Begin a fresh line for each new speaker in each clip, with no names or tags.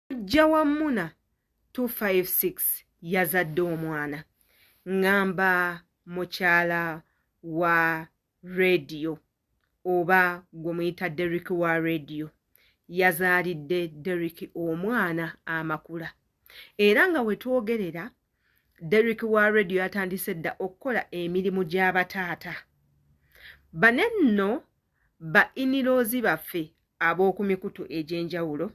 mujja wa muna 256 yazadde omwana ngamba mukyala wa rediyo oba gwe muyita derik wa rediyo yazaalidde derik omwana amakula era nga wetwogerera derik wa rediyo yatandise dda okukola emirimu gy'abataata bane nno ba iniloozi baffe ab'oku mikutu egy'enjawulo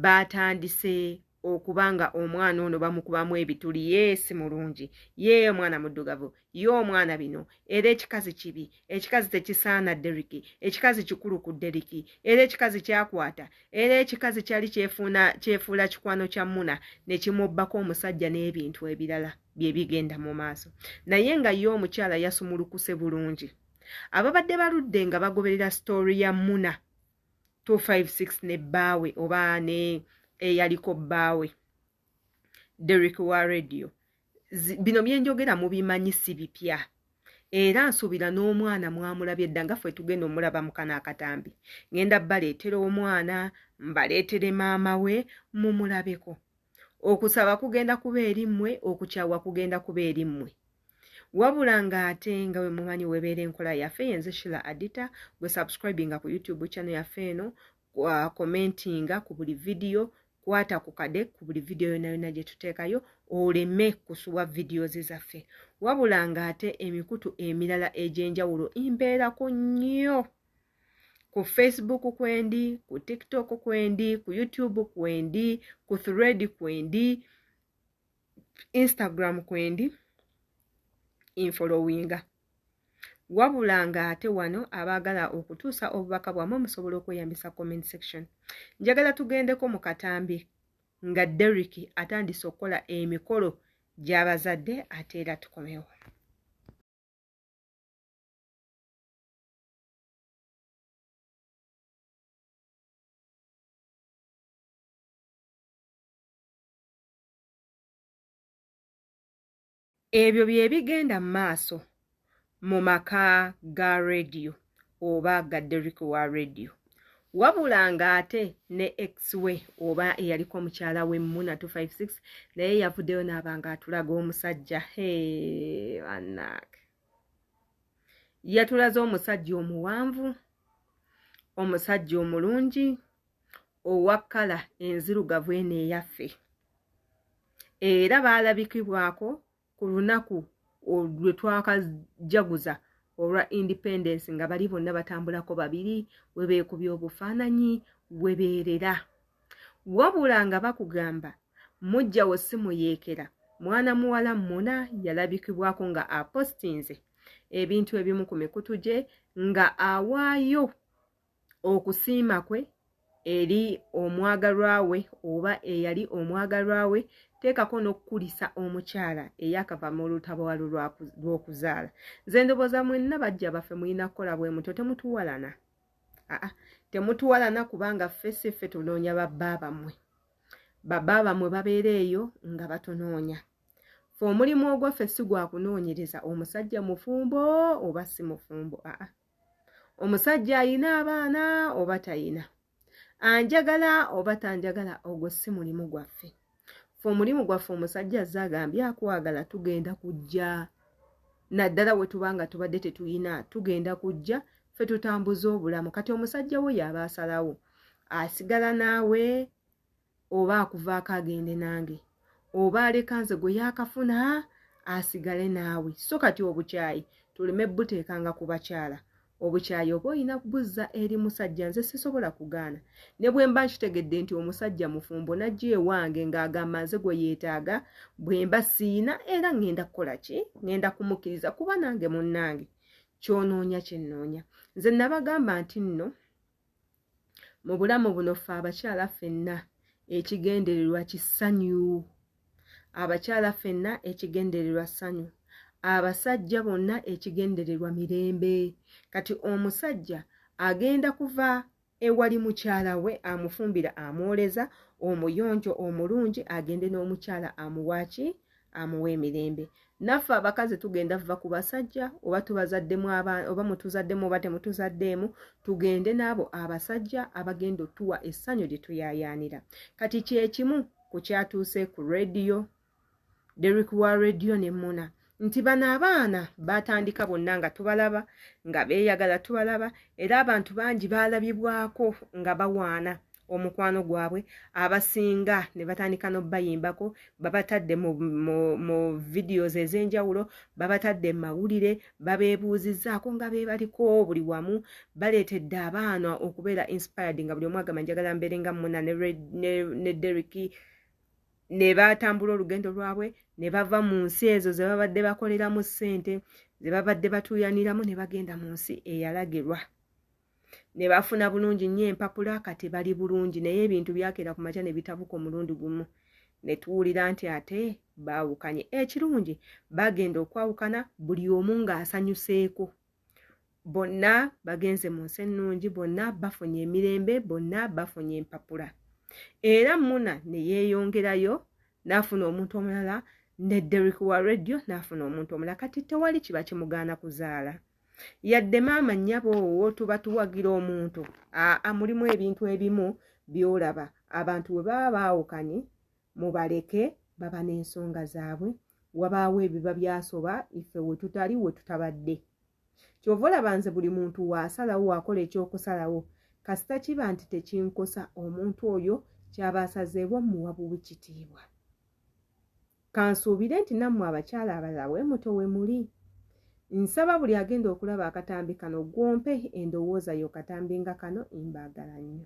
baatandise okuba nga omwana ono bamukubamu ebituli yeesi mulungi yee omwana muddugavu ye omwana bino era ekikazi kibi ekikazi tekisaana deriki ekikazi kikulu ku deriki era ekikazi kyakwata era ekikazi kyali kyefuuna kyefuula kikwano kya muna ne kimubbako omusajja n'ebintu ebirala bye bigenda mu maaso naye nga ye omukyala yasumulukuse bulungi ababadde baludde nga bagoberera sitoori ya muna 256 ne bbaawe oba ne eyaliko bbaawe derrick wa radio bino byenjogera mubimanyi si bipya era nsuubira n'omwana mwamulabye dda nga ffe tugenda omulaba mukana akatambi ngenda baleetera omwana mbaleetere maama we mumulabeko okusaba kugenda kuba eri mmwe okukyawa kugenda kuba eri mmwe wabula nga ate nga bwe mumanyi webeera enkola yaffe yenze shila adita gwe subscribinga ku youtube channel yaffe eno commentinga ku buli vidiyo kwata ku kade ku buli vidiyo yona yona gye tuteekayo oleme kusubwa vidiyozi zaffe wabula nga ate emikutu emirala egy'enjawulo imbeerako nnyo ku facebook kwendi ku tiktok kwendi ku youtube kwendi ku thread kwendi instagram kwendi infolowinga wabula nga ate wano abaagala okutuusa obubaka bwamwe musobola okweyambisa comment section njagala tugendeko mu katambi nga derrick atandise okukola emikolo gy'abazadde ate era tukomewo ebyo bye bigenda mu maaso mu maka ga rediyo oba ga deriki wa rediyo wabula ng'ate ne ex we oba eyaliko omukyala we muna 256 naye yavuddeyo n'aba ng'atulaga omusajja heanak yatulaze omusajja omuwanvu omusajja omulungi owa kkala enzirugavu eno eyaffe era baalabikibwako ku lunaku lwe twakajaguza olwa independence nga bali bonna batambulako babiri we beekubya obufaananyi we beerera wabula nga bakugamba mujjawo si muyeekera mwana muwala muna yalabikibwako nga apostinze ebintu ebimu ku mikutu gye nga awaayo okusiima kwe eri omwagalwa we oba eyali omwagalwa we teekako n'okukulisa omukyala eyakava mu lutabaalo lw'okuzaala nze ndowooza mwenna bajja baffe mulina kukola bwe mutyo temutuwalana aa temutuwalana kubanga ffe si ffe tunoonya babba bammwe babba bammwe babeera eyo nga batunoonya fe omulimu ogwaffe si gwa kunoonyereza omusajja mufumbo oba si mufumbo aa omusajja ayina abaana oba tayina anjagala oba tanjagala ogwo si mulimu gwaffe fe omulimu gwaffe omusajja azze agambye akwagala tugenda kujja naddala we tuba nga tubadde tetuyina tugenda kujja fe tutambuza obulamu kati omusajja wo yaaba asalawo asigala naawe oba akuvaako agende nange oba aleka nze gwe yakafuna asigale naawe so kati obukyayi tuleme buteekanga ku bakyala obukyayi oba olina kubuzza eri musajja nze sisobola kugaana ne bwe mba nkitegedde nti omusajja mufumbo najja ewange ng'agamba nze gwe yeetaaga bwe mba siina era ŋŋenda kukola ki ŋŋenda kumukkiriza kuba nange munnange kyonoonya kyennoonya nze nabagamba nti nno mu bulamu buno ffe abakyala ffenna ekigendererwa kisanyu abakyala ffenna ekigendererwa ssanyu abasajja bonna ekigendererwa mirembe kati omusajja agenda kuva ewali mukyala we amufumbira amwoleza omuyonjo omulungi agende n'omukyala amuwaaki amuwa emirembe naffe abakazi tugenda vva ku basajja oba tubazaddemu oba mutuzaddemu oba temutuzaddeemu tugende n'abo abasajja abagenda otuwa essanyu lye tuyayaanira kati kyekimu ku kyatuuse ku rediyo derik wa rediyo ne muna nti bano abaana batandika bonna nga tubalaba nga beeyagala tubalaba era abantu bangi baalabibwako nga bawaana omukwano gwabwe abasinga ne batandika n'obayimbako babatadde mu, mu, mu videos ez'enjawulo babatadde mu mawulire babeebuuzizzaako nga beebaliko buli wamu baleetedde abaana okubeera inspired nga buli omu agamba njagala mbeere nga muna ne, ne, ne derik ne batambula olugendo lwabwe ne bava mu nsi ezo ze babadde bakoleramu ssente ze babadde batuuyaniramu ne bagenda mu nsi eyalagirwa ne bafuna bulungi nnyo empapula kati bali bulungi naye ebintu byakeera ku makya ne bitabuka omulundi gumu ne tuwulira nti ate baawukanye ekirungi bagenda okwawukana buli omu ng'asanyuseeko bonna bagenze mu nsi ennungi bonna bafunye emirembe bonna bafunye empapula era muna ne yeeyongerayo n'afuna omuntu omulala ne derrick wa radio n'afuna omuntu omulala kati tewali kiba kimugaana kuzaala yadde maama nnyabo owo tuba tuwagira omuntu aa mulimu ebintu ebimu byolaba abantu bwe baba baawukanye mubaleke baba n'ensonga zaabwe wabaawo ebiba byasoba ife we tutali we tutabadde kyova olaba nze buli muntu waasalawo waakola ekyokusalawo kasita kiba nti tekinkosa omuntu oyo kyaba asazeewo muwa buwi kitiibwa Kansuubire nti nammwe abakyala abalala bwe muto we muli. Nsaba buli agenda okulaba akatambi kano gw'ompe endowooza yo katambi nga kano mbaagala nnyo.